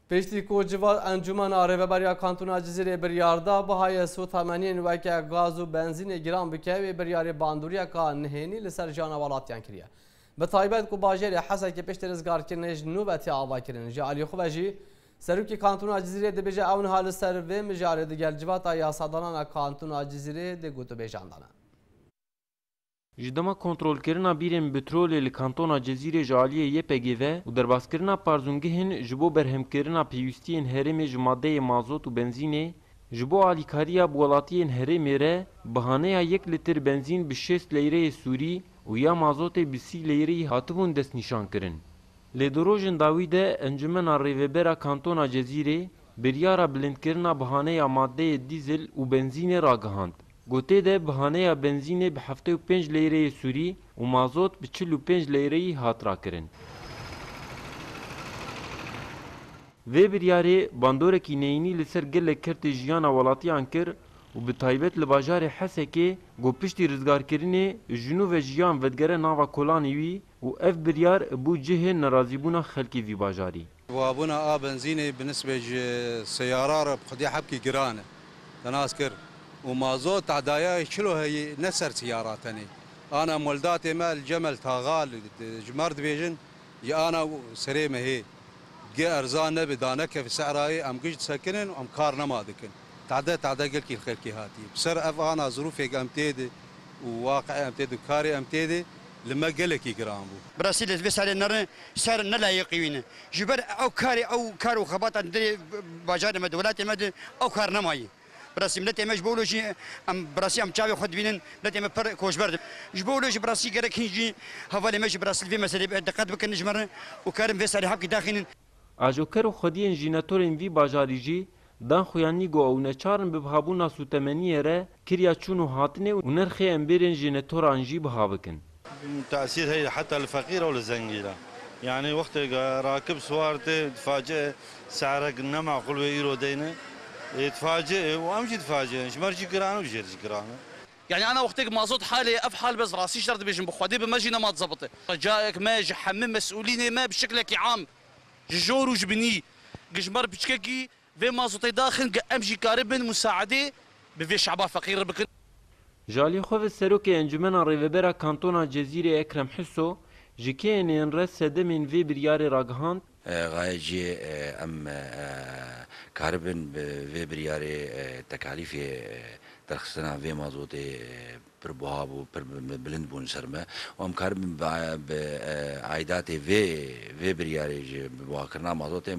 Piştî ku civat encûmena rêveberiya kantûna Cizîrê biryar da bihayê sotemeniyên weke gaz û benzînê giran bike wê biryarê bandoriyeka nihênî li ser jiyana welatiyan kiriye. Bi taybet ku bajêrê Hesekê piştî rizgarkirinê ji nû ve tê avakirin. Ji aliyê xwe ve jî Serokê Kantûna Cizîrê dibêje ew niha li ser vê mijarê digel civata yasadanana Kantûna Cizîrê dê gotûbêjan dane. Ji dema kontrolkirina bîrên bitrolê li kantona Cezîrê ji aliyê YPG'ê ve û derbaskirina parzûngihên ji bo berhemkirina pêwîstiyên herêmê ji madeyê mazot û benzînê ji bo alîkariya bi welatiyên herêmê re bi haneya yek litir benzîn bi şêst leyreyê sûrî û ya mazotê bi sî leyrî hatibûn destnîşankirin. Lê di rojên dawî de Encûmena Rêvebera Kantona Cezîrê biryara bilindkirina bi haneya madeyê dîzil û benzînê ragihand. Gotê de bihaneya benzînê bi heftê û pênc leyreyê sûrî û mazot bi çil û pênc leyreyî hat rakirin. Vê biryarê bandorekî neyînî li ser gelek kertê jiyana welatiyan kir û bi taybet li bajarê Hesekê ku piştî rizgarkirinê ji nû ve jiyan vedigere nava kolanê wî û ev biryar bû cihê nerazîbûna xelkê vî bajarî. Buhabûna a benzînê bi nisbê ji seyara re bi xwedî hebkî giran e. Te nas kir. Û mazot tedaya yê çil û heyî ne ser seyara tenê. Ana moldatê me li Cemel Tagal ji mar dibêjin yê ana serê me hê. Dgê erzan nebe da nekeve seyrayê em giş disekinin û em kar nema dikin. Tede tede gelkî li xelkê hatiye. Bi ser ev ana zirûfê em tê de û waqiê em tê de û karê em tê de li me gelekî giran bû. Bi rastî lê vê serê ne re ser ne layiqî wî ne. Ji ber ew karê ew kar û xebatan di bajarê me di welatê me di ew kar nemayî. Bi rastî miletê me ji bo wilo jî em bi rastî em çavê xwe dibînin miletê me pir koçber dibin. Ji bo wilo jî bi rastî gerek hîn jî hevalên me jî bi rastî li vê meselê diqet bikin ji me re û karin vê serê hevkî daxînin. Ajoker û xwediyên jînatorên vî bajarî jî dan xuyanî ku ew neçar in bi bihabûna sûtemeniyê re kirya çûn û hatinê û nirxê embêrên jînatoran jî biha bikin. Tesîr heye heta li feqîr û li zengî re. Yanî wextê ku rakib siwar tê difaciyê se'rek ne maqûl wê îro deyne. Ê difaciyê û em jî difaciyê ne. Ji mer jî giran e û ji êr jî giran e. Yanî ana wextê ku ma zot halê ye, ev hal bes rastî ji der dibêjin bi Xwedê bi me jî nema dizebite. Ricayek me ji hemû mesûlînê me bi şiklekî am, ji jor û ji binî, ku ji ber piçkekî vê ma zotê daxin ku em jî karibin musaedê bi vê şeba feqîr re bikin. Ji aliyê xwe ve Serokê Encûmena Rêvebera Kantona Cezîrê Ekrem Husso, ji kêyên yên re sedemên vê biryarê ragihand, Gaye cî em karibin bi vê biryarê tekalîfê derxistina vê mazotê pir buha bû, pir bilind bûn ser me û em karibin bi aîdatê vê vê biryarê ji bi buhakirina mazotê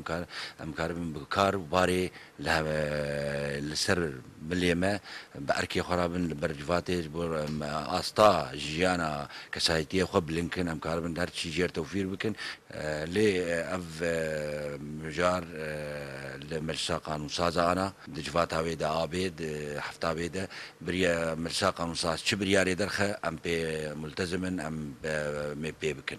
em karibin bi kar û barê Li hev e li ser milê me bi erkê xwe re bin li ber civatê ji bo em asta jiyana kesayetiyê xwe bilind bikin, em karibin her çî jêr tewfîr bikin. Lê ev mijar li Meclisa Qanûnsaz e ana di civata wê de a bê di hefta wê de biriya Meclisa Qanûnsaz çi biryarê derxe em pê multezim in em mê pê bikin.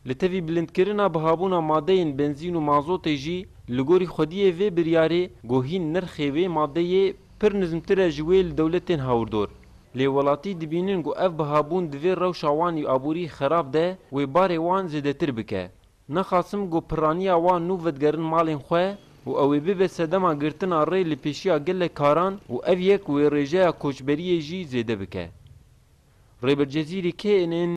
Li tevî bilindkirina bihabûna madeyên benzîn û mazotê jî, li gorî xwediyê vê biryarê ku hîn nirxê wê madeyê pir nizmtir e ji wê li dewlet tên hawirdor. Lê welatî dibînin ku ev bihabûn divê rewşa wan ê aborî xerab de wê barê wan zêdetir bike. Naxasim ku pirraniya wan nû vedigerin malên xwe û ew ê bibe sedema girtina rê li pêşiya gelek karan û ev yek wê rêjeya koçberiyê jî zêde bike. Rêber Cezîrî knn.